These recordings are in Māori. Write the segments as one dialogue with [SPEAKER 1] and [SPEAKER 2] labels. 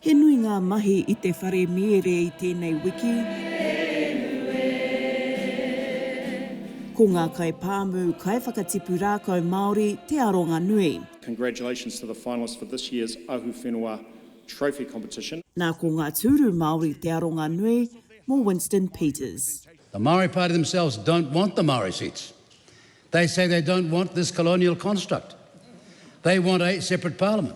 [SPEAKER 1] He nui ngā mahi i te whare mīere i tēnei wiki. Ko ngā kaipāmu, kaiwhakatipu rākau Māori te aronga nui. Congratulations to the finalists for this year's Ahu Whenua Trophy competition. Nā ko ngā tūru Māori te aronga nui mō Winston Peters. The Maori Party themselves don't want the Maori seats. They say they don't want this colonial construct. They want a separate parliament.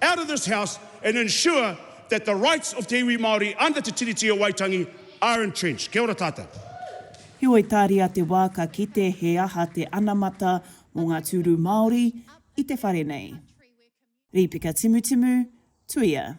[SPEAKER 1] out of this House and ensure that the rights of te iwi Māori under Te Tiriti o Waitangi are entrenched. Kia ora tātou. Heoi tāria te wā ka kite he aha te anamata mō ngā tūru Māori i te whare nei. Rīpeka Timutimu, Tuia.